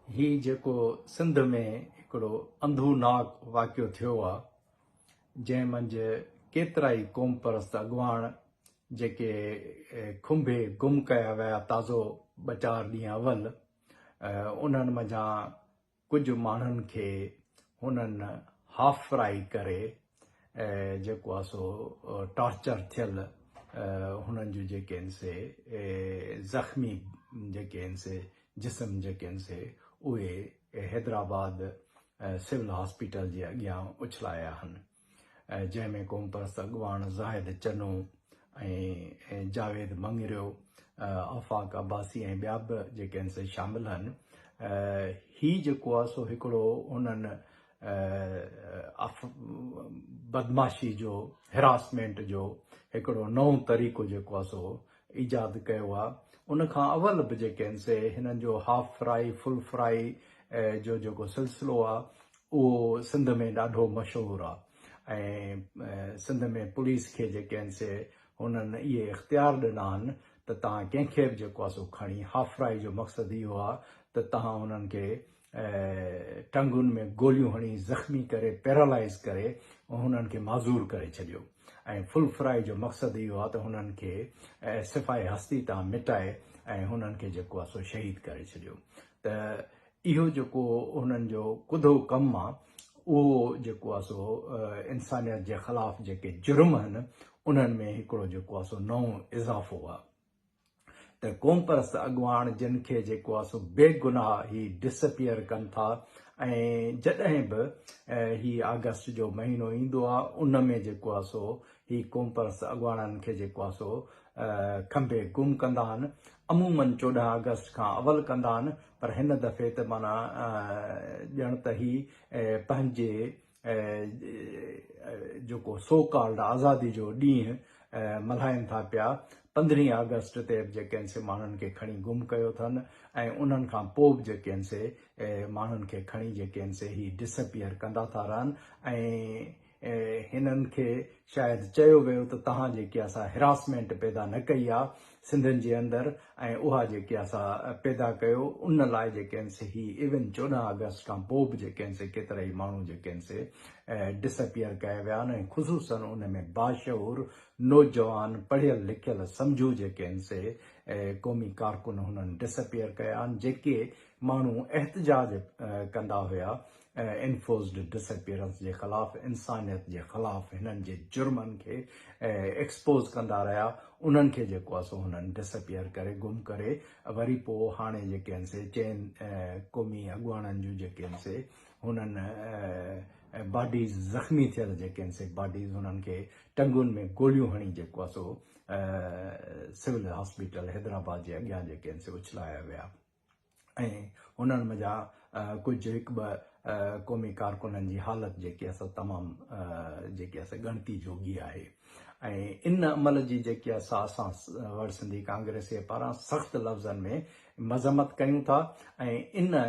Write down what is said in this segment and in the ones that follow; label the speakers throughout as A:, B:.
A: هي جيڪو سنڌ ۾ هڪڙو انڌو ناڪ واقعو ٿيو آ جنهن منجهه ڪيترائي قوم پرست اڳواڻ جيڪي کنڀي گم ڪيا ويا تازو ٻه چار ڏينهن اول انهن منجهان ڪجهه ماڻهن کي هنن هافرائي ڪري جيڪو آهي سو ٽارچر ٿيل هنن جون جيڪي آهن سي زخمي جيڪي آهن سي جسم جيڪي آهن سي اهي حيدرآباد سول هاسپيٽل جي اڳيان اڇلايا آهن. ۽ جنهن ۾ قومپرست اڳواڻ زاهد چنو ۽ جاويد مڱريو، آفاق عباسي ۽ ٻيا به جيڪي آهن سي شامل آهن. هي جيڪو آهي سو هڪڙو انهن بدمعاشي جو، Harassment جو هڪڙو نئون طريقو جيڪو آهي سو ايجاد ڪيو آهي. ان کان اول به جيڪي آهن سي هنن جو هاف فرائي، فل فرائي جو جيڪو سلسلو آهي اهو سنڌ ۾ ڏاڍو مشهور آ ۽ سنڌ ۾ پوليس کي جيڪي آهن سي هنن اهي اختيار ڏنا آهن ته تهان ڪنهن کي به جيڪو آ سو کڻي هافرائي جو مقصد اهو آ ته تهان هنن کي ٽنگن ۾ گوليون هڻي زخمي ڪري پيرالائز ڪري هنن کي معذور ڪري ڇڏيو ۽ فل فرائي جو مقصد اهو آ ته هنن کي صفائي هستي تان مٽائي ۽ هنن کي جيڪو آ سو شهيد ڪري ڇڏيو ته اهو جيڪو هنن جو ڪڌو ڪم آ اهو جيڪو آ سو انسانيت جي خلاف جيڪي جرم هن انهن ۾ هڪڙو جيڪو آ سو نئون اضافو آ ته قومپرست اڳواڻ جن کي جيڪو آ سو بي گناهه هي ڊسپيئر ڪن ٿا ۽ جڏهن به هي آگسٽ جو مهينو ايندو آ ان ۾ جيڪو آ سو هي قومپرست اڳواڻن کي جيڪو آ سو کنڀي گم ڪندا آهن عمومن چوڏهن آگسٽ کان اول ڪندا آهن پر هن دفعي ته معنيٰ ڄڻ ته هي پنهنجي جيڪو سو ڪالڊ آزادي جو ڏينهن ملهائين ٿا پيا، پندرهين آگسٽ تي به جيڪن سي ماڻهن کي کڻي گم ڪيو اٿن ۽ انهن کان پوء به جيڪن سي ماڻهن کي کڻي جيڪن سي هي ڊسپيئر ڪندا ٿا رهن ۽ هنن کي شايد چيو ويو ته توهان جيڪي اسان هراسمينٽ پيدا نه ڪئي آ سنڌين جي اندر ۽ اها جيڪي اسان پيدا ڪيو ان لاء جيڪي هن سي هي ايون چوڏهن آگسٽ کان پوء به جيڪي هن سي ڪيترائي ماڻهو جيڪي هن سي ڊسپيئر ڪيا ويا آهن ۽ خصوصن ان ۾ باشعور نوجوان پڙهيل لکيل سمجهو جيڪي هن سي قومي ڪارڪن هنن ڊسپيئر ڪيا آهن جيڪي ماڻهو احتجاج ڪندا هيا انفورسڊ ڊس اپيئرنس جي خلاف انسانيت جي خلاف هنن جي جرمن کي ايڪسپوز ڪندا رهيا انهن کي جيڪو آهي سو هنن ڊس اپيئر ڪري گم ڪري وري پو هاڻي جيڪي آهن سي چئن قومي اڳواڻن جون جيڪي آهن سي هنن باڊيز زخمي ٿيل جيڪي آهن سي باڊيز هنن کي ٽنگون ۾ گوليون هڻي جيڪو آهي سو سول هاسپيٽل حيدرآباد جي اڳيان جيڪي آهن سي اڇلايا ويا ۽ انهن منجها ڪجهه هڪ ٻه قومي ڪارڪنن جي حالت جيڪي آسا تمام جيڪي آسا ڳڻتي جوڳي آهي ۽ ان عمل جي جيڪي آسا اسان وڙ سنڌي ڪانگريسي پاران سخت لفظن ۾ مذمت ڪيون ٿا ۽ ان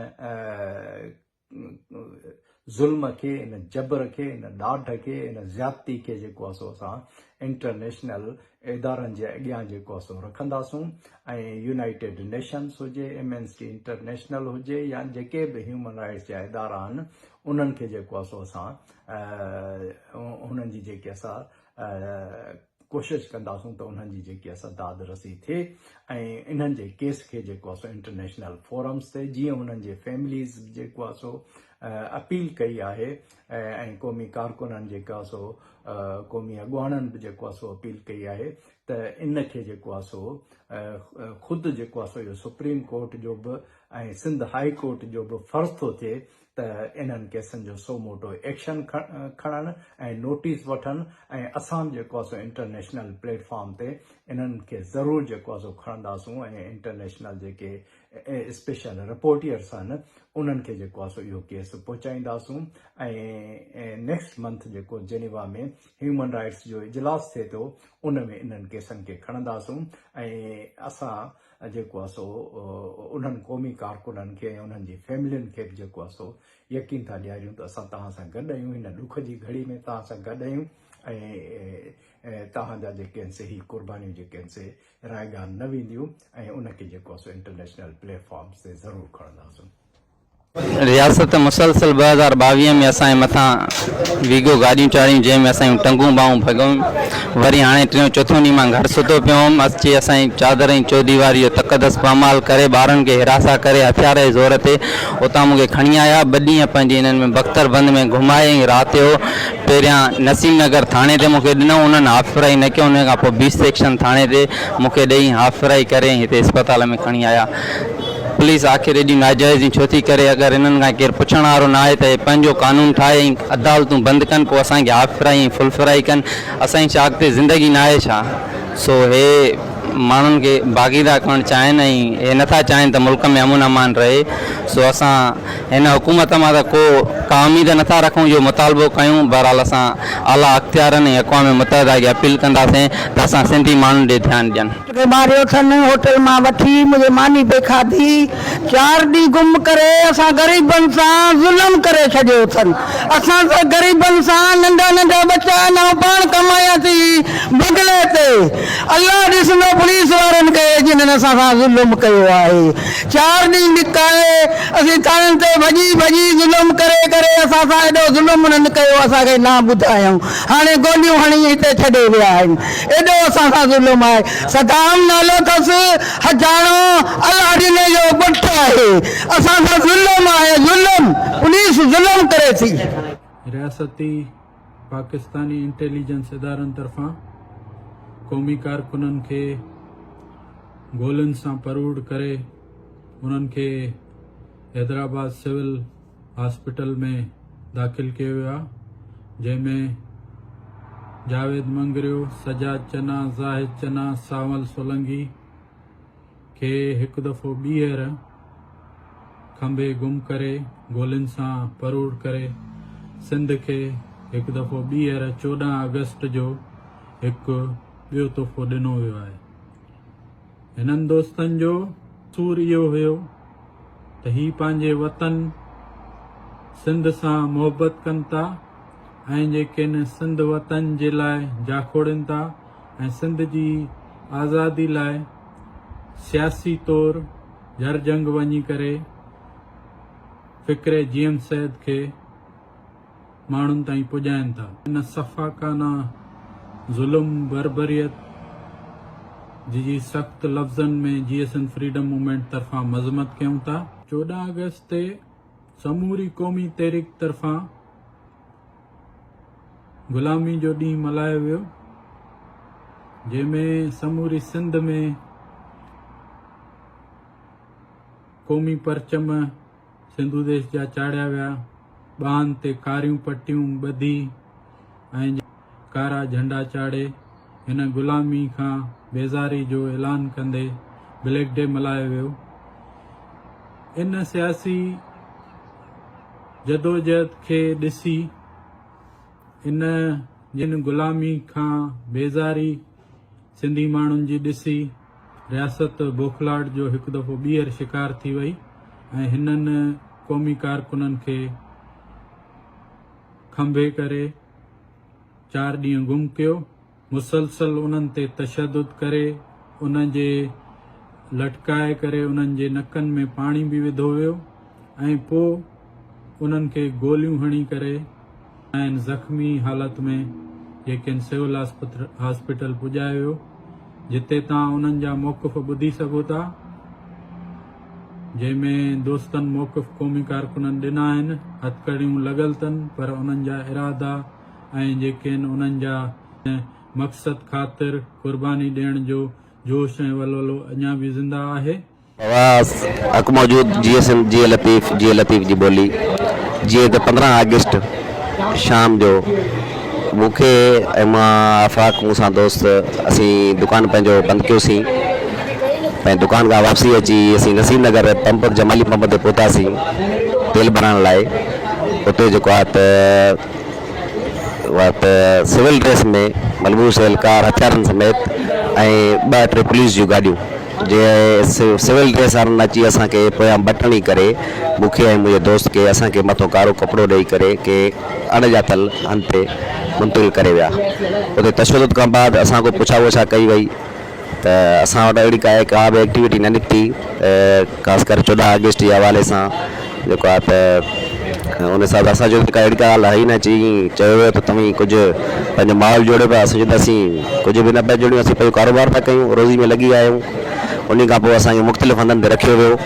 A: ظلم کي ان جبر کي ان ڏاڍ کي ان زيادتي کي جيڪو آهي سو اسان انٽرنيشنل ادارن جي اڳيان جيڪو آهي سو رکنداسون ۽ يونائيٽيڊ نيشنس هجي ايمنسٽي انٽرنيشنل هجي يا جيڪي به هيومن رائٽس جا ادارا آهن انهن کي جيڪو آهي سو اسان انهن جي جيڪي اسان ڪوشش ڪنداسون ته انهن جي جيڪي اسان داد رسي ٿئي ۽ انهن جي ڪيس کي جيڪو اسان انٽرنيشنل فورمز تي جيئن انهن جي فيمليز جيڪو آ سو اپيل ڪئي آهي ۽ قومي ڪارڪنن جيڪو آ سو قومي اڳواڻن به جيڪو آ سو اپيل ڪئي آهي ته ان کي جيڪو آ سو خود جيڪو آ سو اهو سپريم ڪورٽ جو به ۽ سنڌ هائي ڪورٽ جو به فرض ٿو ٿئي ته انهن ڪيسن جو سو موٽو ايڪشن کڻن ۽ نوٽيس وٺن ۽ اسان به جيڪو آسو انٽرنيشنل پليٽ فارم تي انهن کي ضرور جيڪو آسو کڻنداسون ۽ انٽرنيشنل جيڪي اسپيشل رپورٽيئرس آهن انهن کي جيڪو آسو اهو ڪيس پهچائينداسون ۽ نيڪسٽ منٿ جيڪو جنيوا ۾ هيومن رائيٽس جو اجلاس ٿئي ٿو ان ۾ انهن ڪيسن کي کڻنداسون ۽ اسان جيڪو آ سو انهن قومي ڪارڪنن کي ۽ انهن جي فيملين کي به جيڪو آ سو يقين ٿا ڏياريون ته اسان توهان سان گڏ آهيون، هن ڏک جي گهڙي ۾ توهان سان گڏ آهيون ۽ توهان جا جيڪي آهن سي هي قربانيون جيڪي آهن سي رائگان نه وينديون ۽ ان کي جيڪو آ سو انٽرنيشنل پليٽ فارمز تي ضرور کڻنداسون.
B: رياست مسلسل ٻه هزار ٻاويهه ۾ اسان جي مٿان ويگو گاڏيون چاڙهيون جنهن ۾ اسان جون ٽنگون ٻانهون ڀڳيون وري هاڻي ٽيون چوٿون ڏينهن مان گهر ستو پيو هئم اچي اسان جي چادر ۽ چوديواري جو تقدس پامال ڪري ٻارن کي حراسان ڪري هٿيار جي زور تي اتان مون کي کڻي آيا ٻه ڏينهن پنهنجي انهن ۾ بختر بند ۾ گهمائي ۽ رات جو پهريان نسيم نگر ٿاڻي تي مون کي ڏنو انهن هافرائي نه ڪيو انهن کان پوء بي سيڪشن ٿاڻي تي مون کي ڏئي هافرائي ڪري ۽ هتي اسپتال ۾ کڻي آيا پوليس آخر ايڏي ناجائزيون ڇو ٿي ڪري؟ اگر انهن کان ڪير پڇڻ وارو نه آهي ته اهي پنهنجو قانون ٺاهي ۽ عدالتون بند ڪن پوء اسان کي هاف فرائي ۽ فل فرائي ڪن اسان ڇا اڳتي زندگي نه آهي ڇا؟ سو اهي ماڻهن کي باقيده ڪرڻ چاهين ۽ اهي نه ٿا چاهين ته ملڪ ۾ امن امان رهي سو اسان هن حڪومت مان ته ڪو ڪا اميد نه ٿا رکون اهو مطالبو ڪيون بهرحال اسان اعليٰ اختيارن ۽ اقوام متحده کي اپيل ڪنداسين ته اسان سنڌي ماڻهن ڏي ڌيان ڏين. کي ماريو ٿن هوٽل
C: مان وٺي منهنجي ماني به کاڌي چار ڏينهن گم ڪري اسان غريبن سان ظلم ڪري ڇڏيو ٿن اسان سان غريبن سان ننڍا ننڍا ٻچا نئون پاڻ ڪمايا ٿي بگلي تي الله ڏسندو پوليس وارن کي جنھن اسان سان ظلم ڪيو آهي چار ڏينهن لڪائي اسين ٿاڻن تي ڀڄي ڀڄي ظلم ڪري ڪري اسان سان ايڏو ظلم انھن ڪيو اسان کي نه ٻڌايائون هاڻي گوليون هڻي هتي ڇڏي ويا آهن ايڏو اسان سان ظلم آهي. صدام نالو ٿس حجاڻو الاڙيني جو ٻٽ آهي اسان سان ظلم آهي ظلم پوليس ظلم ڪري ٿي. رياستي
D: پاڪستاني انٽيليجنس ادارن طرفان قومي ڪارڪنن کي گولين سان پروڙ ڪري انهن کي حيدرآباد سول هاسپيٽل ۾ داخل ڪيو ويو آهي جنهن ۾ جاويد مڱريو، سجاد چنا، زاهد چنا، سانول سولنگي کي هڪ دفعو ٻيهر کنڀي گم ڪري گولين سان پروڙ ڪري سنڌ کي هڪ دفعو ٻيهر چوڏهن آگسٽ جو هڪ ٻيو تحفو ڏنو ويو آهي. هنن دوستن جو قصور اهو هيو ته هي پنهنجي وطن سنڌ سان محبت ڪن ٿا ۽ جي ڪن سنڌ وطن جي لاء جاکوڙين ٿا ۽ سنڌ جي آزادي لاء سياسي طور جر جنگ وڃي ڪري فڪري جي ايم سيد کي ماڻهن تائين پڄائين ٿا. ان سفاڪانه ظلم، بربريت جي جي سخت لفظن ۾ J S N freedom movement طرفان مذمت ڪيون ٿا. چوڏهن آگسٽ تي سموري قومي تحريڪ طرفان غلامي جو ڏينهن ملهايو ويو جنهن ۾ سموري سنڌ ۾ قومي پرچم، سنڌو ديس جا چاڙهيا ويا، ٻانهن تي ڪاريون پٽيون ٻڌي ۽ ڪارا جهنڊا چاڙهي هن غلامي کان بيزاري جو اعلان ڪندي بليڪ ڊي ملهايو ويو. ان سياسي جدوجهد کي ڏسي ان جن غلامي کان بيزاري سنڌي ماڻهن جي ڏسي رياست بوکلاهٽ جو هڪ دفعو ٻيهر شڪار ٿي وئي ۽ هنن قومي ڪارڪنن کي کنڀي ڪري چار ڏينهن گم ڪيو، مسلسل انهن تي تشدد ڪري انهن جي لٽڪائي ڪري انهن جي نڪن ۾ پاڻي به وڌو ويو ۽ پوء انهن کي گوليون هڻي ڪري کانئن زخمي حالت ۾ جي کين سول هاسپيٽل پڄايو ويو جتي تان انهن جا موقف ٻڌي سگهو ٿا جنهن ۾ دوستن موقف قومي ڪارڪنن ڏنا آهن هٿڪڙيون لڳل تن پر انهن جا ارادا ۽ جي کين انهن جا مقصد خاطر قرباني ڏيڻ جو جوش ۽ ولولو اڃا به زنده آهي. اها
E: حق موجود جي ايس ايم جي اي لطيف جي اي لطيف جي ٻولي جيئن ته پندرهن آگسٽ شام جو مون کي ۽ مان آفاق مون سان دوست اسين دڪان پنهنجو بند ڪيوسين ۽ دڪان کان واپسي اچي اسين نصير نگر پمپ جمالي پمپ تي پهتاسين تيل ڀرائڻ لاء اتي جيڪو آهي ته وقت سول ڊريس ۾ ملبوس اهلڪار هٿيارن سميت ۽ ٻه ٽي پوليس جون گاڏيون جي سول ڊريس وارن اچي اسان کي پويان بٽڻي ڪري مون کي ۽ منهنجي دوست کي اسان کي مٿو ڪارو ڪپڙو ڏئي ڪري ڪي اڻ ڄاتل هنڌ تي منتقل ڪري ويا اتي تشدد کان بعد اسان کان پڇا وڇا ڪئي وئي ته اسان وٽ اهڙي ڪا به ايڪٽيوٽي نه نڪتي خاص ڪري چوڏهن آگسٽ جي حوالي سان جيڪو آهي ته ان حساب سان اسان چيو ته ڪا اهڙي ڪا ڳالهه آهي ئي نه اچي ائين چيو ويو ته توهين ڪجهه پنهنجو ماحول جوڙيو پيا اسان چيو ته اسين ڪجهه به نه پيا جوڙيون اسين پنهنجو ڪاروبار پيا ڪيون روزي ۾ لڳي آهيون انهي کان پوء اسان کي مختلف هنڌن تي رکيو ويو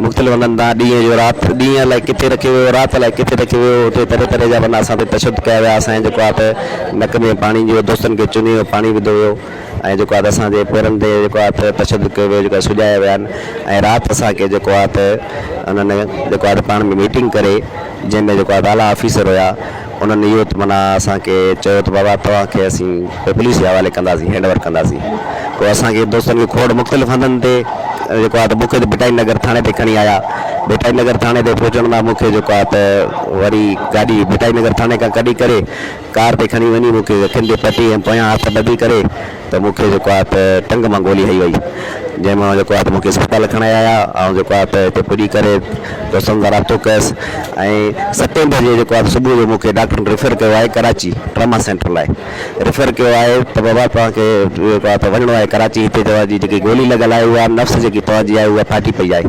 E: مختلف هنڌن تان ڏينهن جو رات ڏينهن الائي ڪٿي رکيو ويو رات الائي ڪٿي رکيو ويو اتي طرح طرح جا معنيٰ اسان تي تشدد ڪيا ويا اسان جي جيڪو آهي ته نڪ ۾ پاڻي جيڪو دوستن کي چني ويو پاڻي وڌو ويو ۽ جيڪو آهي ته اسان جي پيرن تي جيڪو آهي ته تشدد ڪيو ويو جيڪو آهي سجايا ويا آهن ۽ رات اسان کي جيڪو آهي ته انهن جيڪو آهي ته پاڻ ۾ ميٽنگ ڪري جنهن ۾ جيڪو آهي ته اعليٰ آفيسر هيا انهن اهو ته معنيٰ اسان کي چيو ته بابا توهان کي اسين پوء پوليس جي حوالي ڪنداسين هينڊ اوور ڪنداسين پوء اسان کي دوستن کي کوڙ مختلف هنڌن تي جيڪو آهي ته مون کي ته ڀٽائي نگر ٿاڻي تي کڻي آيا ڀٽائي نگر ٿاڻي تي پهچڻ لاء مون کي جيڪو آهي ته وري گاڏي ڀٽائي نگر ٿاڻي کان ڪڍي ڪري ڪار تي کڻي وڃي مون کي اکين تي پٽي ۽ پويان هٿ ٻڌي ڪري ته مون کي جيڪو آهي ته ٽنگ مان گولي هنئي وئي جنهن مان جيڪو آهي ته مون کي اسپتال کڻائي آيا آئون جيڪو آهي ته هتي پڄي ڪري دوستن سان رابطو ڪيس ۽ ستين بجي جيڪو آهي صبح جو مون کي ڊاڪٽرن ريفر ڪيو آهي ڪراچي ٽراما سينٽر لاء ريفر ڪيو آهي ته بابا توهان کي جيڪو آهي ته وڃڻو آهي ڪراچي هتي توهان جي جيڪي گولي لڳل آهي اها نفس جيڪي توهان جي آهي اها ڦاٽي پئي آهي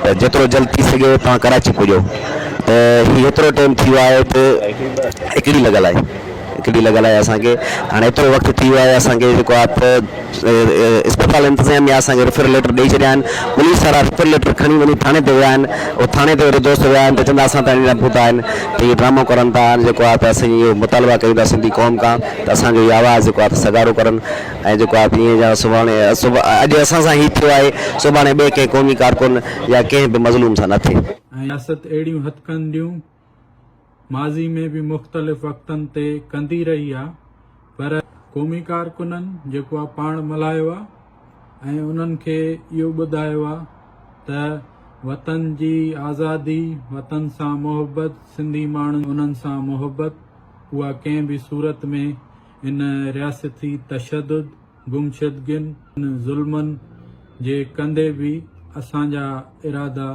E: ته جيترو جلد ٿي سگهي توهان ڪراچي پڄو ته هي هيترو ٽيم ٿي ويو آهي ته هڪڙي لڳل آهي هڪڙي لڳل آهي اسان کي هاڻي هيترو وقت ٿي ويو آهي اسان کي جيڪو آهي ته اسپتال انتظاميا اسان کي ريفر ليٽر ڏئي ڇڏيا آهن پوليس وارا ريفر ليٽر کڻي وڃي ٿاڻي تي ويا آهن هو ٿاڻي تي وري دوست ويا آهن ته چون ٿا اسان تائين نه پهتا آهن ته اهي ڊرامو ڪرن ٿا هاڻي جيڪو آهي ته اسان اهو مطالبا ڪيون ٿا سنڌي قوم کان ته اسان جو اهو آواز جيڪو آهي ته سگهارو ڪرن ۽ جيڪو آء پي اين جا سڀاڻي اڄ اسان سان هي ٿيو آهي، سڀاڻي ٻئي ڪنهن قومي ڪارڪن يا ڪنهن به مظلوم سان نه ٿئي. رياست اهڙيون
D: هٿڪنڊيون ماضي ۾ به مختلف وقتن تي ڪندي رهي آهي پر قومي ڪارڪنن جيڪو آء پاڻ ملهايو آهي ۽ انهن کي اهو ٻڌايو آهي ته وطن جي آزادي، وطن سان محبت، سنڌي ماڻهن انهن سان محبت اها ڪنهن به صورت ۾ ان رياستي تشدد، گمشدگين ۽ ظلمن جي ڪندي به اسان جا ارادا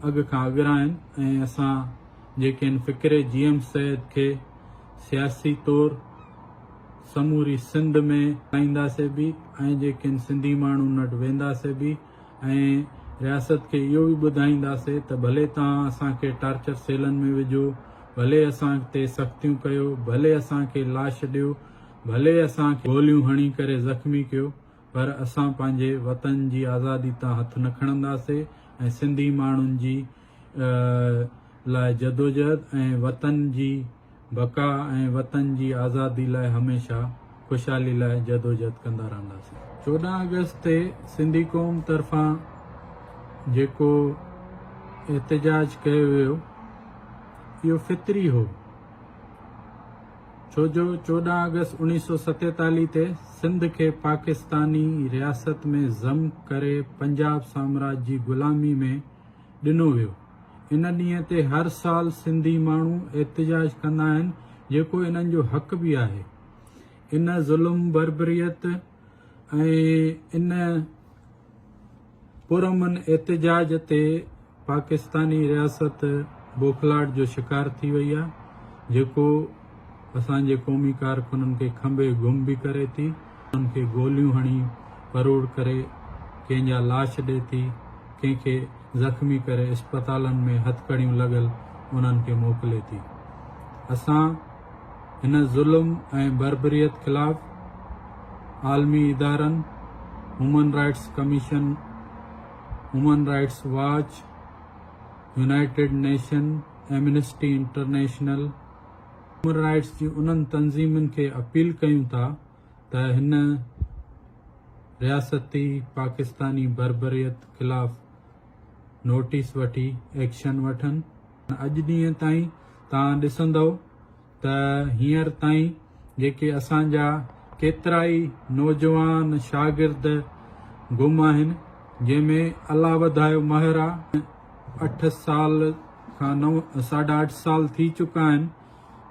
D: اڳ کان اڳرا آهن ۽ اسان جيڪي ان فڪري جي ايم سيد کي سياسي طور سموري سنڌ ۾ هلائينداسي به ۽ جيڪي ان سنڌي ماڻهن وٽ وينداسي به، ۽ رياست کي اهو به ٻڌائينداسي ته ڀلي توهان اسان کي ٽارچر سيلن ۾ وجهو، ڀلي اسان تي سختيون ڪيو، ڀلي اسان کي لاش ڏيو، ڀلي اسان کي گوليون هڻي ڪري زخمي ڪيو پر اسان پنهنجي وطن جي آزادي تان هٿ نه کڻنداسي ۽ سنڌي ماڻهن جي لاء جدوجهد ۽ وطن جي بقا ۽ وطن جي آزادي لاء هميشه خوشحالي لاء جدوجھد ڪندا رهنداسين. چوڏهن آگسٽ تي سنڌي قوم طرفان جيڪو احتجاج ڪيو ويو اهو فطري هو ڇو جو چوڏهن آگسٽ اوڻيهه سؤ ستيتاليهه تي سنڌ کي پاڪستاني رياست ۾ ضم ڪري پنجاب سامراج جي غلامي ۾ ڏنو ويو. ان ڏينهن تي هر سال سنڌي ماڻهو احتجاج ڪندا آهن جيڪو انهن جو حق به آهي. ان ظلم بربريت ۽ ان پرامن احتجاج تي پاڪستاني رياست بوکلاٽ جو شڪار ٿي وئي آهي جيڪو اسان جي قومي ڪارڪنن کي کنڀي گم به ڪري ٿي، انهن کي گوليون هڻي پروڙ ڪري ڪنهن جا لاش ڏئي ٿي، ڪنهن کي زخمي ڪري اسپتالن ۾ هٿڪڙيون لڳل انهن کي موڪلي ٿي. اسان هن ظلم ۽ بربريت خلاف عالمي ادارن، human rights commission, human rights watch, united nation, amnesty international, human rights جي انهن تنظيمن کي اپيل ڪيون ٿا ته هن رياستي پاڪستاني بربريت خلاف نوٽيس وٺي ايڪشن وٺن. اڄ ڏينهن تائين توهان ڏسندؤ ته هينئر تائين جيڪي اسان جا ڪيترائي نوجوان شاگرد گم آهن جنهن ۾ الله وڌايو مهر آ اٺ سال کان نو ساڍا اٺ سال ٿي چڪا آهن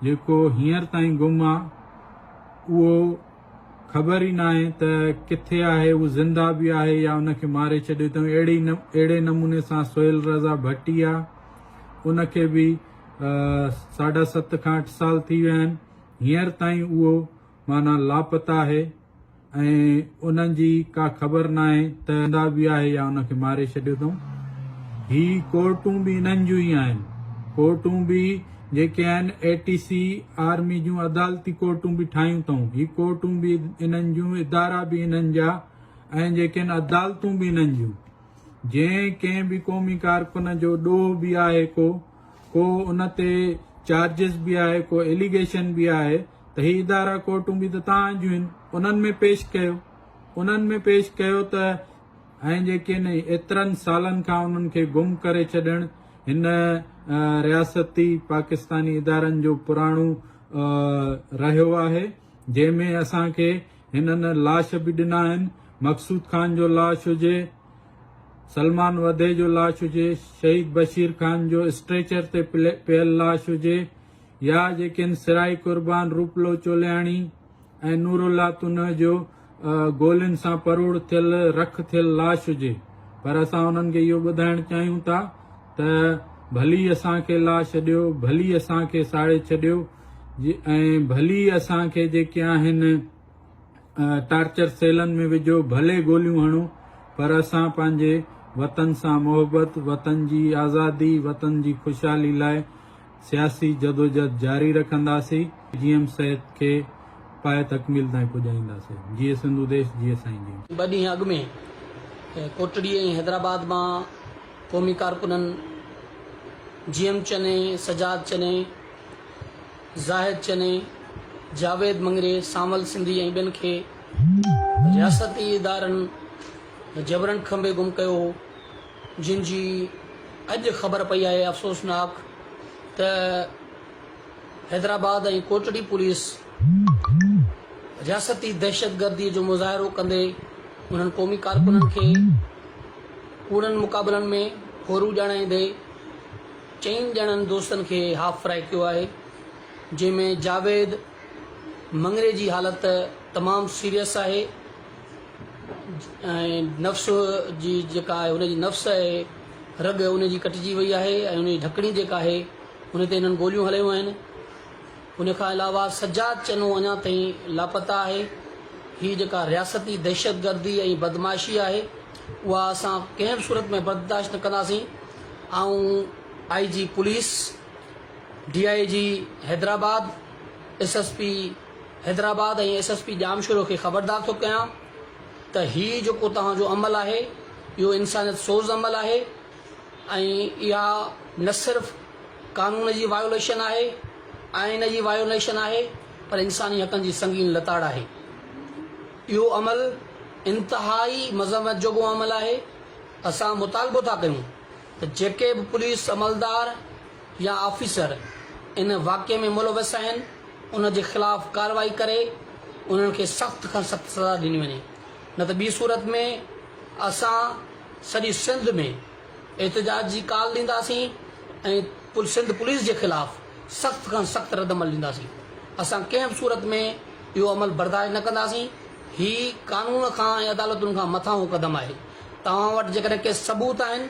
D: جيڪو هينئر تائين گم آ اهو خبر ئي ناهي ته ڪٿي آهي اهو زنده به آهي يا ان کي ماري ڇڏيو اٿئون اهڙي اهڙي نموني سان سهيل رضا ڀٽي آ ان کي به ساڍا ست کان اٺ سال ٿي ويا آهن هينئر تائين اهو معنيٰ لاپتا آهي ۽ ان جي ڪا خبر ناهي ته زنده به آهي يا ان کي ماري ڇڏيو اٿئون هي ڪورٽون به انهن جون ئي آهن ڪورٽون به جيڪي آهن اي ٽي سي آرمي جون عدالتي ڪورٽون به ٺاهيون اٿئون هي ڪورٽون به انهن جون ادارا به انهن جا ۽ جيڪي عدالتون به انهن جون جنهن ڪنهن به قومي ڪارڪن جو ڏوهه به آهي ڪو ڪو ان تي چارجز به آهي ڪو ايليگيشن به آهي ته هي ادارا ڪورٽون به ته تهان جون آهن انهن ۾ پيش ڪيو انهن ۾ پيش ڪيو ته ۽ جيڪي نه ايترن سالن کان انهن کي گم ڪري ڇڏڻ هن رياستي پاڪستاني ادارن جو پراڻو رهيو آهي جنهن ۾ اسان کي هنن لاش به ڏنا آهن، مقصود خان جو لاش هجي، سلمان وڌي جو لاش هجي، شهيد بشير خان جو اسٽريچر تي پيل لاش هجي يا جيڪن سرائي قربان روپلو چولياڻي ۽ نورالله تنهه جو گولين سان پروڙ ٿيل رک ٿيل لاش هجي پر اسان انهن کي اهو ٻڌائڻ چاهيون ٿا ته ڀلي اسان کي لا ڇڏيو، ڀلي اسان کي ساڙي ڇڏيو ۽ ڀلي اسان کي جيڪي آهن ٽارچر سيلن ۾ وجهو، ڀلي گوليون هڻو پر اسان پنهنجي وطن سان محبت، وطن جي آزادي، وطن جي خوشحالي لاء سياسي جدوجھد جاري رکنداسي جي ايم سيد کي پايه تڪميل تائين پڄائينداسي جيئي سنڌو ديش جيئي سائين جين. ٻه ڏينهن اڳ ۾
F: ڪوٽڙي ۽ حيدرآباد مان قومي ڪارڪنن جي ايم چني، سجاد چني، زاهد چني، جاويد مڱري، سانول سنڌي ۽ ٻين کي رياستي ادارن جبرن کنڀي گم ڪيو هو. جن جي اڄ خبر پئي آهي افسوسناڪ ته حيدرآباد ۽ ڪوٽڙي پوليس رياستي دهشتگردي جو مظاهرو ڪندي انهن قومي ڪارڪنن کي ڪوڙن مقابلن ۾ ڦورو ڄاڻائيندي چئن ڄڻن دوستن کي هاف فرائي ڪيو آهي جنهن ۾ جاويد مڱري جي حالت تمام سيريس آهي ۽ نفس جي جيڪا آهي ان جي نفس آهي رڳ ان جي ڪٽجي وئي آهي ۽ ان جي ڍڪڻي جيڪا آهي ان تي هنن گوليون هلايون آهن ان کان علاوه سجاد چنو اڃا تائين لاپتا آهي هي جيڪا رياستي دهشتگردي ۽ بدمعاشي آهي اها اسان ڪنهن به صورت ۾ برداشت نه ڪنداسين آئون I G police D I G Hyderabad S S P Hyderabad ۽ S S P Jamshoro کي خبردار ٿو ڪيان ته هي جيڪو توهان جو عمل آهي اهو انسانيت سوز عمل آهي ۽ اها نه صرف قانون جي وايوليشن آهي آئين جي وايوليشن آهي پر انساني حقن جي سنگين لتاڙ آهي اهو عمل انتهائي مذمت جوڳو عمل آهي اسان مطالبو ٿا ڪيون ته جيڪي به پوليس عملدار يا آفيسر ان واقعي ۾ ملوث آهن انهن جي خلاف ڪارروائي ڪري انهن کي سخت کان سخت سزا ڏني وڃي نه ته ٻي صورت ۾ اسان سڄي سنڌ ۾ احتجاج جي ڪال ڏينداسين ۽ سنڌ پوليس جي خلاف سخت کان سخت ردعمل ڏينداسين اسان ڪنهن به صورت ۾ اهو عمل برداشت نه ڪنداسين هي قانون کان ۽ عدالتن کان مٿانهون قدم آهي توهان وٽ جيڪڏهن ڪي ثبوت آهن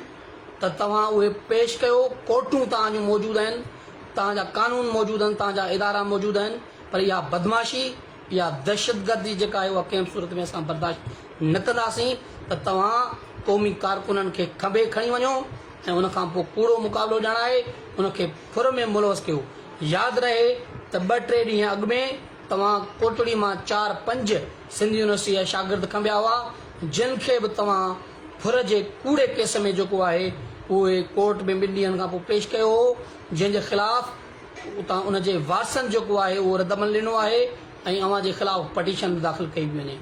F: ته توهان اهي پيش ڪيو، ڪورٽون توهان جون موجود آهن، توهان جا قانون موجود آهن، توهان جا ادارا موجود آهن، پر اها بدمعاشي، اها دهشتگردي جيڪا آهي اها ڪنهن به صورت ۾ اسان برداشت نه ڪنداسين ته توهان قومي ڪارڪنن کي کنڀي کڻي وڃو ۽ ان کان پوء ڪوڙو مقابلو ڄاڻائي ان کي ڦر ۾ ملوث ڪيو. ياد رهي ته ٻه ٽي ڏينهن اڳ ۾ توهان ڪوٽڙي مان چار پنج سنڌ يونيورسٽيء جا شاگرد کنڀيا هئا جن کي به توهان ڦر جي ڪوڙي ڪيس ۾ جيڪو آهي اهي ڪورٽ ۾ ٻن ڏينهن کانپوء پيش ڪيو هو جنهن جي خلاف اتان ان جي وارثن جيڪو آهي اهو ردعمل ڏنو آهي ۽ اوهان جي خلاف پٽيشن به داخل ڪئي پئي وڃي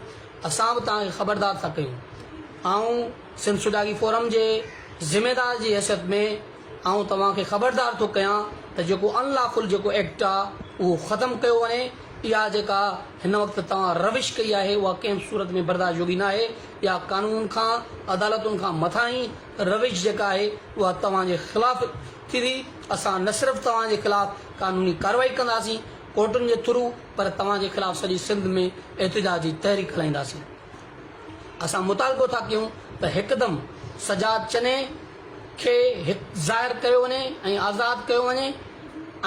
F: اسان به توهان کي خبردار ٿا ڪيون آئون سنڌ سوڌاڳي فورم جي ذميدار جي حيثيت ۾ آئون توهان کي خبردار ٿو ڪيان ته جيڪو ان لا فل جيڪو ايڪٽ آ اهو ختم ڪيو وڃي اها جيڪا هن وقت توهان روش ڪئي آهي اها ڪنهن به صورت ۾ برداشت جوڳي ناهي اها قانون کان عدالتن کان مٿاهين روش جيڪا آهي اها توهان جي خلاف ٿيندي اسان نه صرف توهان جي خلاف قانوني ڪارروائي ڪنداسين ڪورٽن جي ٿرو پر توهان جي خلاف سڄي سنڌ ۾ احتجاجي تحريڪ هلائينداسين. اسان مطالبو ٿا ڪيون ته هڪدم سجاد چني کي هت ظاهر ڪيو وڃي ۽ آزاد ڪيو وڃي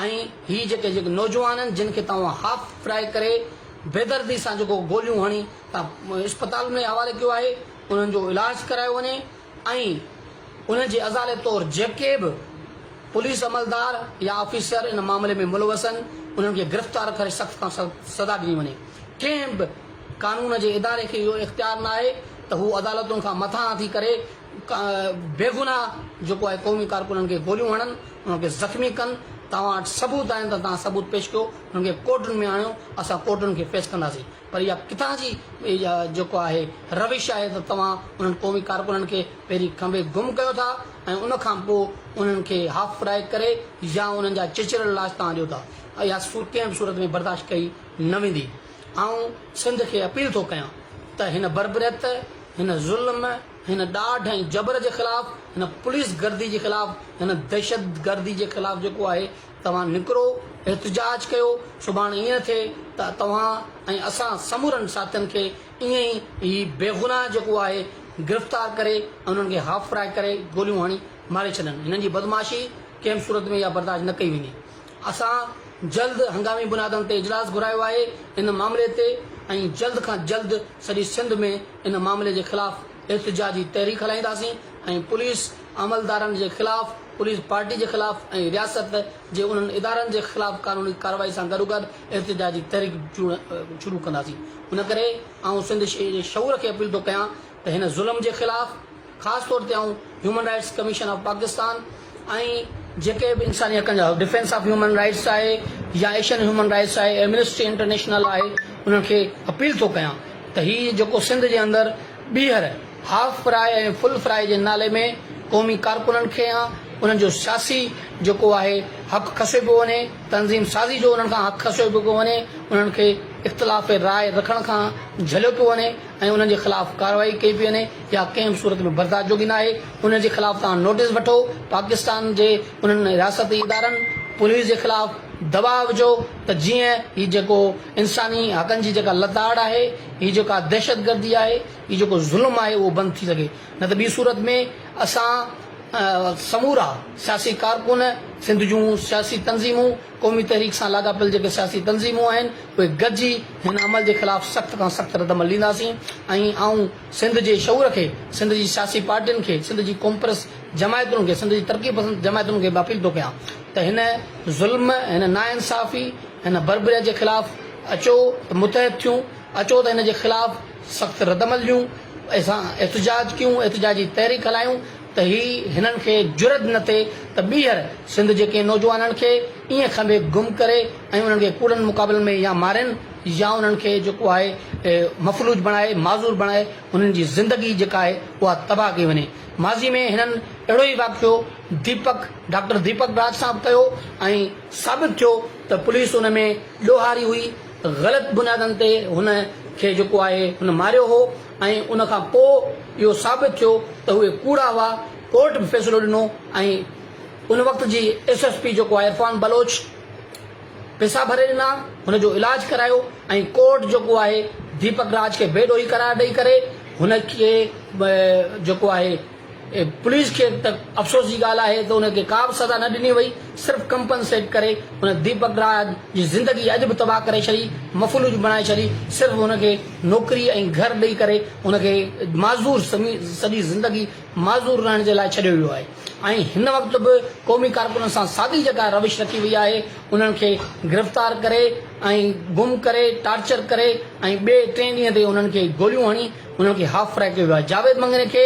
F: ۽ هي جيڪي جيڪي نوجوان آهن جن کي توهان هاف فرائي ڪري بيدردي سان جيڪو گوليون هڻي تان اسپتال ۾ حوالي ڪيو آهي انهن جو علاج ڪرايو وڃي ۽ انهن جي ازالي طور جيڪي به پوليس عملدار يا آفيسر ان معاملي ۾ ملوث آهن انهن کي گرفتار ڪري سخت کان سخت سزا ڏني وڃي ڪنهن به قانون جي اداري کي اهو اختيار ناهي ته هو عدالتن کان مٿانهان ٿي ڪري بيگناهه جيڪو آهي قومي ڪارڪنن کي گوليون هڻن انهن کي زخمي ڪن توهان وٽ ثبوت آهن ته توهان ثبوت پيش ڪيو انهن کي ڪورٽن ۾ آڻيو اسان ڪورٽن کي فيس ڪنداسين. پر اها ڪٿان جي جيڪو آهي روش آهي ته توهان انهن قومي ڪارڪنن کي پهرين کنڀي گم ڪيو ٿا ۽ ان کان پوء انهن کي هاف فرائي ڪري يا انهن جا چچريل لاش توهان ڏيو ٿا. اها سوچ ڪنهن به صورت ۾ برداشت ڪئي نه ويندي. آئون سنڌ کي اپيل ٿو ڪيان ته هن بربريت، هن ظلم، هن ڏاڍ ۽ جبر جي خلاف، هن پوليس گردي جي خلاف، هن دهشت گردي جي خلاف جيڪو آهي، توهان نڪرو، احتجاج ڪيو، سڀاڻ ائين ٿئي ته توهان ۽ اسان سمورن ساٿين کي ائين ئي هي بيگناهه جيڪو آهي گرفتار ڪري ۽ انهن کي هاف فرائي ڪري گوليون هڻي ماري ڇڏن. هنن جي بدمعاشي ڪنهن به صورت ۾ اها برداشت نه ڪئي ويندي. اسان جلد هنگامي بنيادن تي اجلاس گهرايو آهي ان معاملي تي ۽ جلد کان جلد سڄي سنڌ ۾ ان معاملي جي خلاف احتجاجي تحريڪ هلائينداسين. ۽ پوليس عملدارن جي خلاف پوليس پارٽي جي خلاف ۽ رياست جي انهن ادارن جي خلاف قانوني ڪارروائي سان گڏوگڏ احتجاجي تحريڪ شروع ڪنداسين ان ڪري آئون سنڌ جي شعور کي اپيل ٿو ڪيان ته هن ظلم جي خلاف خاص طور تي آئون human rights commission of Pakistan ۽ جيڪي به انساني حقن جا ڊفينس آف هيومن رائٽس آهي يا ايشين هيومن رائٽس آهي ايمنسٽي انٽرنيشنل آهي انهن کي اپيل ٿو ڪيان ته هي جيڪو سنڌ جي اندر ٻيهر هاف فراء ۽ فل فراء جي نالي ۾ قومي ڪارڪنن کي يا انهن جو سياسي جيڪو آهي حق کسيو پيو وڃي تنظيم سازي جو انهن کان حق کسيو پيو پيو وڃي انهن کي اختلاف راء رکڻ کان جهليو پيو وڃي ۽ انهن جي خلاف ڪارروائي ڪئي پيئي وڃي يا ڪنهن به صورت ۾ برداشت جوڳي ناهي، انهن جي خلاف توهان نوٽيس وٺو، پاڪستان جي انهن رياستي ادارن، پوليس جي خلاف دٻاء وجهو ته جيئن هي جيڪو انساني حقن جي جيڪا لتاڙ آهي، هي جيڪا دهشتگردي آهي، هي جيڪو ظلم آهي اهو بند ٿي سگهي، نه ته ٻي صورت ۾ اسان سمورا سياسي ڪارڪن، سنڌ جون سياسي تنظيمون، قومي تحريڪ سان لاڳاپيل جيڪي سياسي تنظيمون آهن اهي گڏجي هن عمل جي خلاف سخت کان سخت ردعمل ڏينداسين ۽ آئون سنڌ جي شعور کي، سنڌ جي سياسي پارٽين کي، سنڌ جي قومپرست جماعتن کي، سنڌ جي ترقي پسند جماعتن کي به اپيل ٿو ڪيان ته هن ظلم، هن ناانصافي، هن بربريت جي خلاف اچو ته متحد ٿيون، اچو ته هن جي خلاف سخت ردعمل ڏيون، اسان احتجاج ڪيون، احتجاجي تحريڪ هلايون، ته هي هنن کي جرئت نه ٿئي ته ٻيهر سنڌ جي ڪنهن نوجوانن کي ائين کنڀي گم ڪري ۽ انهن کي ڪوڙن مقابلن ۾ يا مارين يا انهن کي جيڪو آهي مفلوج بڻائي معذور بڻائي انهن جي زندگي جيڪا آهي اها تباهه ڪئي وڃي ماضي ۾ هنن اهڙو ئي واقعو ديپڪ ڊاڪٽر ديپڪ راج سان به ڪيو ۽ ثابت ٿيو ته پوليس ان ۾ ڏوهاري هئي غلط بنيادن تي هن کي جيڪو آهي هن ماريو هو. ۽ ان کان پوء اهو ثابت ٿيو ته اهي ڪوڙا هئا، ڪورٽ به فيصلو ڏنو ۽ ان وقت جي ايس ايس پي جيڪو آهي عرفان بلوچ پيسا ڀري ڏنا، هن جو علاج ڪرايو ۽ ڪورٽ جيڪو آهي ديپڪ راج کي بي ڏوهي قرار ڏئي ڪري هن کي جيڪو آهي. پوليس کي ته افسوس جي ڳالهه آهي ته ان کي ڪا به سزا نه ڏني وئي، صرف ڪمپنسيٽ ڪري هن ديپڪ راج جي زندگي اڄ به تباهه ڪري ڇڏي، مفلوج بڻائي ڇڏي، صرف هن کي نوڪري ۽ گهر ڏئي ڪري هن کي معذور سڄي زندگي معذور رهڻ جي لاء ڇڏيو ويو آهي ۽ هن وقت به قومي ڪارڪنن سان ساڳي جيڪا روش رکي وئي آهي انهن کي گرفتار ڪري ۽ گم ڪري ٽارچر ڪري ۽ ٻئي ٽئين ڏينهن تي انهن کي گوليون هڻي هن کي هاف فرائي ڪيو ويو آهي جاويد مڱڻي کي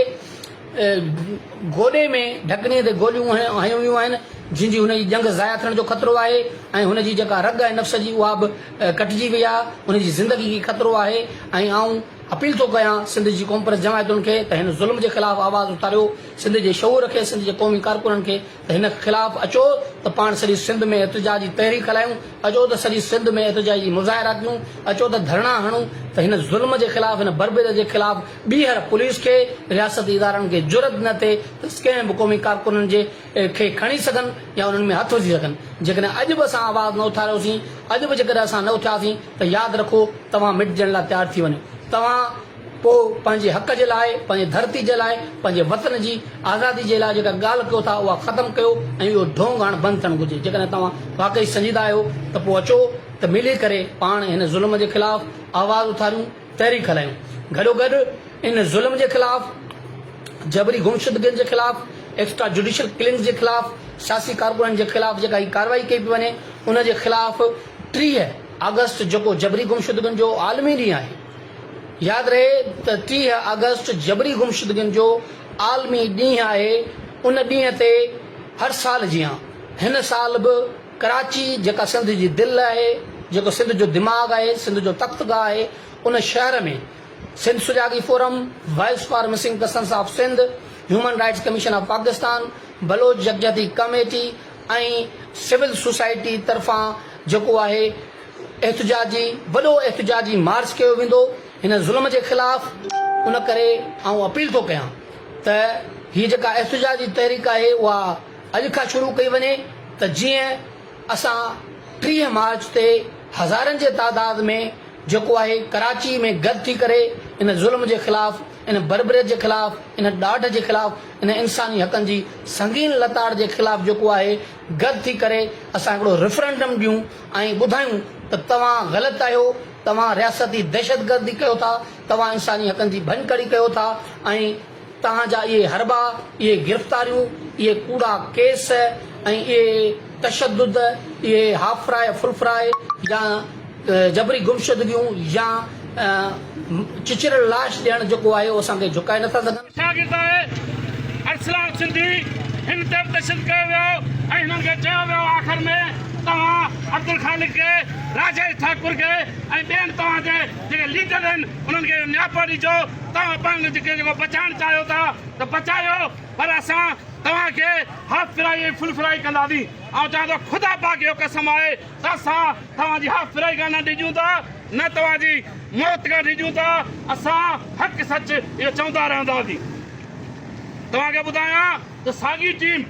F: گوڏي ۾ ڍڪڻي تي گوليون هنيون ويون آهن جن جي هن جي ڄنگهه ضايع ٿيڻ جو خطرو آهي ۽ هن جي جيڪا رڳ آهي نفس جي اها به ڪٽجي وئي آهي هن جي زندگي کي خطرو آهي ۽ آئون اپيل ٿو ڪيان سنڌ جي قومپرست جماعتن کي ته هن ظلم جي خلاف آواز اٿاريو سنڌ جي شعور کي سنڌ جي قومي ڪارڪنن کي ته هن خلاف اچو ته پاڻ سڄي سنڌ ۾ احتجاج جي تحريڪ هلايون، اچو ته سڄي سنڌ ۾ احتجاج جي مظاهرا ڪيون، اچو ته ڌرڻا هڻون ته هن ظلم جي خلاف هن بربريت جي خلاف ٻيهر پوليس کي رياستي ادارن کي جرئت نه ٿئي ته ڪنهن به قومي ڪارڪنن جي کي کڻي سگهن يا انهن ۾ هٿ وجهي سگهن جيڪڏهن اڄ به اسان آواز نه اٿاريوسين اڄ به جيڪڏهن اسان نه اٿياسين ته ياد رکو توهان مٽجڻ لاء تيار ٿي وڃو توهان پوء پنهنجي حق جي لاء، پنهنجي ڌرتي جي لاء، پنهنجي وطن جي آزادي جي لاء جيڪا ڳالهه ڪيو ٿا اها ختم ڪيو ۽ اهو ڍونگ هاڻ بند ٿيڻ گهرجي. جيڪڏهن توهان واقعي سنجيده آهيو ته پوء اچو ته ملي ڪري پاڻ هن ظلم جي خلاف آواز اٿاريون، تحريڪ هلايون. گڏوگڏ ان ظلم جي خلاف، جبري گمشدگين جي خلاف، ايڪسٽرا جوڊيشل ڪلنگز جي خلاف، سياسي ڪارڪنن جي خلاف جيڪا هي ڪارروائي ڪئي پئي وڃي ان جي خلاف ٽيهه آگسٽ جيڪو جبري گمشدگين جو عالمي ڏينهن آهي، ياد رهي ته ٽيهه آگسٽ جبري گمشدگين جو عالمي ڏينهن آهي، ان ڏينهن تي هر سال جيان هن سال به ڪراچي جيڪا سنڌ جي دل آهي، جيڪو سنڌ جو دماغ آهي، سنڌ جو تخت گاهه آهي، ان شهر ۾ سنڌ سجاڳي forum, voice for missing persons of Sindh, human rights commission of Pakistan, Baloch يڪجهتي ڪميٽي ۽ سول سوسائٽي طرفان جيڪو آهي، احتجاجي وڏو احتجاجي مارچ ڪيو ويندو هن ظلم جي خلاف ان ڪري آئون اپيل ٿو ڪيان ته هي جيڪا احتجاجي تحريڪ آهي اها اڄ کان شروع ڪئي وڃي ته جيئن اسان ٽيهه مارچ تي هزارن جي تعداد ۾ جيڪو آهي ڪراچي ۾ گڏ ٿي ڪري ان ظلم جي خلاف ان بربريت جي خلاف ان ڏاڍ جي خلاف ان انساني حقن جي سنگين لتاڙ جي خلاف جيڪو آهي گڏ ٿي ڪري اسان هڪڙو ريفرنڊم ڏيون ۽ ٻڌايون ته توهان غلط آهيو، توهان رياستي دهشتگردي ڪيو ٿا، توهان انساني حقن جي ڀڃڪڙي ڪيو ٿا ۽ توهان جا اهي حربا، اهي گرفتاريون، اهي ڪوڙا ڪيس ۽ اهي تشدد، اهي هاف فرائي، فل فرائي يا. جبري گمشدگيون يا چچريل لاش ڏيڻ جيڪو آهي اهو اسان کي جهڪائي نٿا سگهن. شاگرد آهي
G: ارسلان سنڌي هن تي به تشدد ڪيو ويو ۽ هنن کي چيو ويو آخر ۾ توهان عبدالخالق کي راجيش ٺاڪر کي ۽ ٻين توهان جي جيڪي ليڊر آهن انهن کي اهو نياپو ڏجو توهان پنهنجو جيڪي جيڪو بچائڻ چاهيو ٿا ته بچايو پر اسان توهان کي هاف فرائي ۽ فل فرائي ڪنداسين آئون چوان ٿو خدا پاڪ جو قسم آهي اسان توهان جي اها فريگا نه ڊڄون ٿا نه توهان جي موت کان ڊڄون ٿا اسان حق سچ اهو چوندا رهنداسين توهان کي ٻڌايان ته ساڳي ٽيم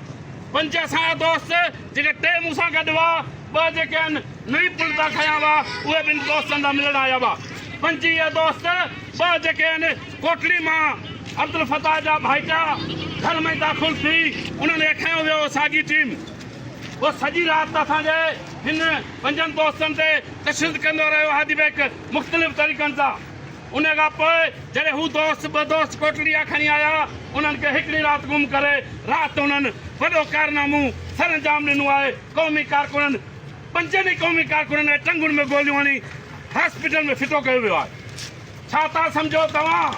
G: پنج اسان جا دوست جيڪي ٽي مون سان گڏ هئا ٻه جيڪي ان نئين پل تان کنيا هئا اهي به ان دوستن سان ملڻ آيا هئا پنج اهي دوست ٻه جيڪي ان ڪوٽڙي مان عبدالفتاح جا ڀائيٽا گهر ۾ داخل ٿي انهن کي کنيو ويو ساڳي ٽيم هو سڄي رات اسان جي هن پنجن دوستن تي تشدد ڪندو رهيو آهي اديبيڪ مختلف طريقن سان ان کان پوء جڏهن هو دوست ٻه دوست ڪوٽڙي آ کڻي آيا انهن کي هڪڙي رات گم ڪري رات انهن وڏو ڪارنامو سرانجام ڏنو آهي قومي ڪارڪنن پنجن ئي قومي ڪارڪنن کي ٽنگن ۾ گوليون هڻي هاسپيٽل ۾ ڦٽو ڪيو ويو آهي ڇا ٿا سمجهو توهان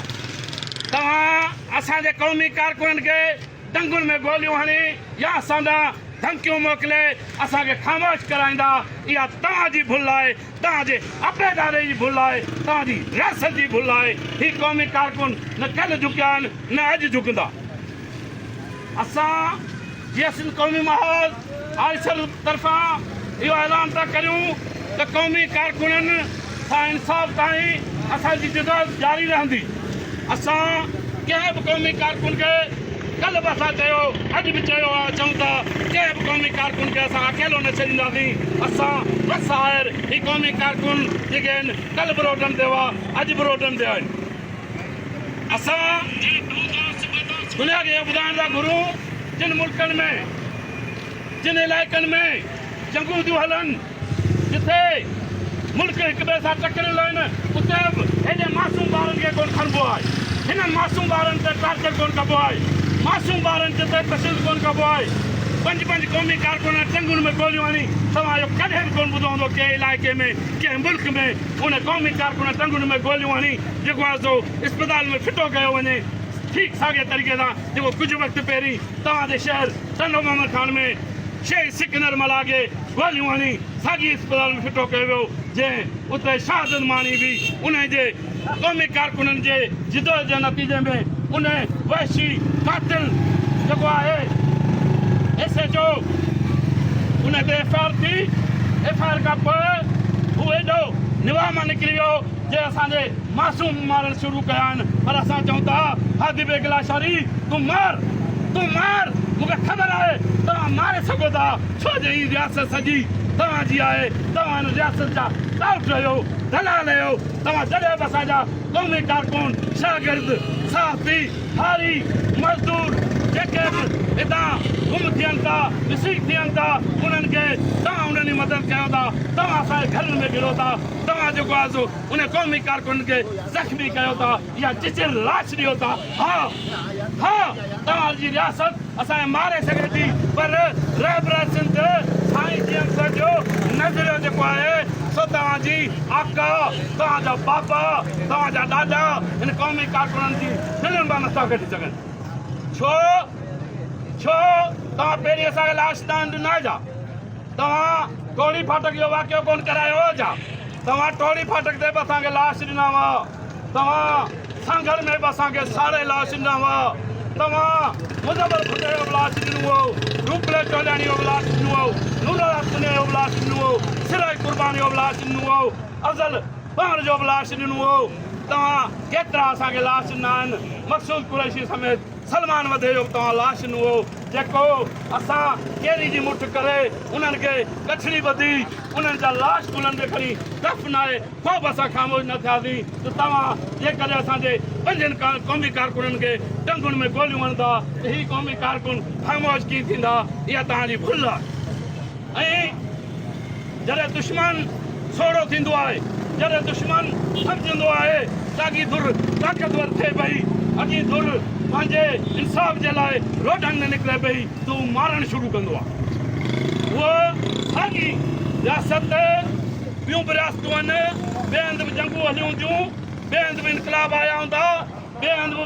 G: توهان اسان جي قومي ڪارڪنن کي ٽنگن ۾ گوليون هڻي يا اسان ڏانهن ڌمڪيون موڪلي اسان کي خاموش ڪرائيندا، اها توهان جي ڀل آهي، توهان جي عبيداري جي ڀل آهي، توهان جي رياست جي ڀل آهي، هي قومي ڪارڪن نه ڪلهه جهڪيا آهن نه اڄ جهڪندا. اسان جي سنڌ قومي محاذ آئيسر طرفان اهو اعلان ٿا ڪريون ته قومي ڪارڪنن سان انصاف تائين اسان جي جدوجهد جاري رهندي، اسان ڪنهن به قومي ڪارڪن کي ڪلهه به اسان چيو، اڄ به چيو آهي چئون ٿا ڪنهن به قومي ڪارڪن کي اسان اڪيلو نه ڇڏينداسين، اسان بس آهر هي قومي ڪارڪن جيڪي آهن ڪلهه به روڊن تي هئا اڄ به روڊن تي آهن. اسان دنيا کي اهو ٻڌائڻ ٿا گهرون جن ملڪن ۾ جن علائقن ۾ جنگون ٿيون هلن جتي ملڪ هڪ ٻئي سان ٽڪريل آهن اتي به هيڏي معصوم ٻارن کي ڪونه کڻبو آهي هنن معصوم ٻارن تي ٽارچر ڪونه ڪبو آهي معصوم ٻارن تي تشدد ڪونه ڪبو آهي پنج پنج قومي ڪارڪنن ٽنگن ۾ گوليون هڻي توهان اهو ڪڏهن به ڪونه ٻڌو هوندو ڪنهن علائقي ۾ ڪنهن ملڪ ۾ ان قومي ڪارڪن ٽنگن ۾ گوليون هڻي جيڪو آهي سو اسپتال ۾ ڦٽو ڪيو وڃي ٺيڪ ساڳئي طريقي سان جيڪو ڪجهه وقت پهرين توهان جي شهر ٽنڊو محمد خان ۾ شهيد سڪندر ملاح کي گوليون هڻي ساڳئي اسپتال ۾ ڦٽو ڪيو ويو جنهن اتي شهادت ماڻي هئي انهي جي قومي ڪارڪنن جي جدوجھد جي نتيجي ۾ ان وحشي قاتل جيڪو آهي ايس ايچ او ان تي ايف آء آر ٿي ايف آء آر کان پوء هو ايڏو نواح مان نڪري ويو جي اسان جي معصوم مارڻ شروع ڪيا آهن پر اسان چئون ٿا هادي بيگ لاشاري تون مار تون مار مون کي خبر آهي توهان ماري سگهو ٿا ڇو جو هي رياست سڄي توهان جي آهي توهان هن رياست جا ٽائوٽ آهيو دلال آهيو توهان جڏهن به اسان جا قومي ڪارڪن، شاگرد، صحافي، هاري، مزدور جيڪي به هتان گم ٿين ٿا، مسنگ ٿين ٿا انهن کي توهان انهن جي مدد ڪيو ٿا، توهان اسان جي گهرن ۾ گهڙو ٿا، توهان جيڪو آهي سو انهن قومي ڪارڪنن کي زخمي ڪيو ٿا يا چچيل لاش ڏيو ٿا، ها ها توهان جي رياست. اسان کي ماري سگهي ٿي پر رهبران سنڌ سائين جيئن سر جو نظريو جيڪو آهي سو توهان جي آقا توهان جا بابا توهان جا ڏاڏا هن قومي ڪارڪنن جي دلين مان نٿا ڪڍي سگهن ڇو ڇو توهان پهرين اسان کي لاش نه آندي نه جا توهان ٽوڙي ڦاٽڪ جو واقعو ڪون ڪرايو جا توهان ٽوڙي ڦاٽڪ تي به اسان کي لاش ڏنا هئا توهان سانگهڙ ۾ به اسان کي ساڙي لاش ڏنا هئا، توهان مظفر ڀٽي جو به لاش ڏنو هئو، روپلي چوڌياڻي جو به لاش ڏنو هئو، نورالحق سنيو جو به لاش ڏنو هئو، سرائي قربان جو به لاش ڏنو هئو، افضل پاڻ جو به لاش ڏنو هئو، توهان ڪيترا اسان کي لاش ڏنا آهن، مقصود قريشي سميت سلمان وڌي جو به توهان لاش ڏنو هئو، جيڪو اسان ڪيري جي مٺ ڪري انهن کي ڳٺڙي ٻڌي انهن جا لاش ڪلهن تي کڻي دفنائي پوء به اسان خاموش نه ٿياسين ته توهان جيڪڏهن اسان جي پنجن قومي ڪارڪنن کي ٽنگن ۾ گوليون هڻندا ته هي قومي ڪارڪن خاموش ڪيئن ٿيندا؟ اها توهان جي ڀل آهي ۽ جڏهن دشمن سوڙهو ٿيندو آهي، جڏهن دشمن سمجهندو آهي ته اڳي ڌر طاقتور ٿئي پئي، اڳي ڌر پنهنجي انصاف جي لاء روڊن ۾ نڪري پئي ته هو مارڻ شروع ڪندو آهي. اها ساڳي رياست ٻيون به رياستون آهن، ٻئي هنڌ به جنگون هليون هونديون، ٻئي هنڌ به انقلاب آيا هوندا، ٻئي هنڌ به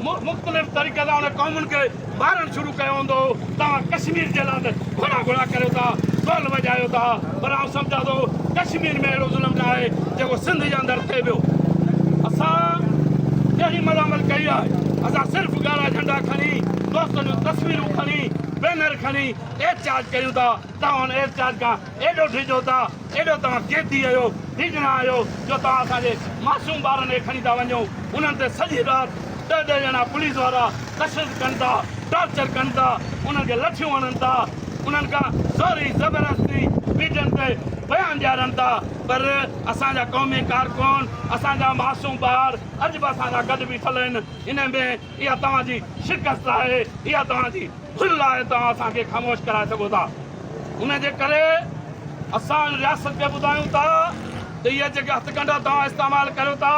G: مختلف طريقي سان انهن قومن کي مارڻ شروع ڪيو هوندو، توهان ڪشمير جي لاء ته گهڙا گهڙا ڪريو ٿا، ڍول وڄايو ٿا، پر آئون سمجهان ٿو ڪشمير ۾ اهڙو ظلم نه آهي جيڪو سنڌ جي اندر ٿئي پيو. اسان ڪهڙي ملامت ڪئي آهي، اسان صرف ڳاڙها جهنڊا کڻي، دوستن جون تصويرون کڻي، بينر کڻي احتجاج ڪريون ٿا، توهان ان احتجاج کان ايڏو ڊڄو ٿا، ايڏو توهان قيدي آهيو، ڊڄڻا آهيو جو توهان اسان جي معصوم ٻارن کي کڻي ٿا وڃو، انهن تي سڄي رات ڏهه ڏهه ڄڻا پوليس وارا تشدد ڪن ٿا، ٽارچر ڪن ٿا، انهن کي لٺيون هڻن ٿا، انهن کان زوري زبردستي ميڊين تي بيان ڏيارن ٿا، پر اسان جا قومي ڪارڪن، اسان جا معصوم ٻار اڄ به اسان سان گڏ بيٺل آهن، انهي ۾ اها توهان جي شڪست آهي، اها توهان جي ڀل آهي، توهان اسان کي خاموش ڪرائي سگهو ٿا. ان جي ڪري اسان ان رياست کي ٻڌايون ٿا ته اهي جيڪي هٿڪنڊا توهان استعمال ڪريو ٿا،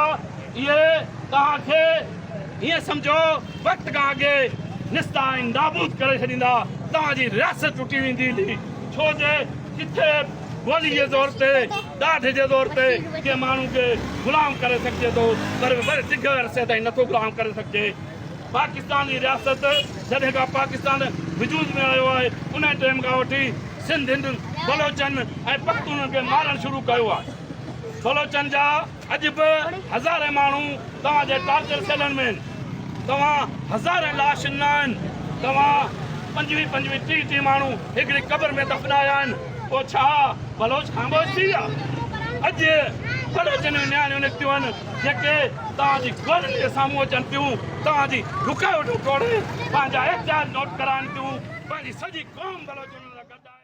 G: اهي توهان کي هيئن سمجهو وقت کان اڳي نستا ۽ نابود ڪري ڇڏيندا، توهان جي رياست ٽٽي ويندي، ڇو جي ڪٿي گولي جي زور تي ڏاڍ جي زور تي ڪنهن ماڻهو کي غلام ڪري سگهجي ٿو پر وري ڊگهي عرصي تائين نٿو غلام ڪري سگهجي. پاڪستان جي رياست جڏهن کان پاڪستان وجود ۾ آيو آهي انهي ٽيم کان وٺي سنڌين، بلوچن ۽ پختونن کي مارڻ شروع ڪيو آهي. بلوچن جا. اڄ به هزارين ماڻهو توهان جي ٽارچر سيلن ۾ آهن، توهان هزارين لاشن نه آهن، توهان پنجويهه پنجويهه ٽيهه ٽيهه ماڻهو هڪڙي قبر ۾ دفنايا آهن، پوء ڇا بلوچ خاموش ٿي ويا؟ اڄ بلوچن جون نياڻيون نڪتيون آهن جيڪي توهان جي گولن جي سامهون اچن ٿيون، توهان جي رڪاوٽون ٽوڙي پنهنجا احتجاج نوٽ ڪرائن ٿيون، پنهنجي سڄي قوم بلوچن لاء گڏ آهي.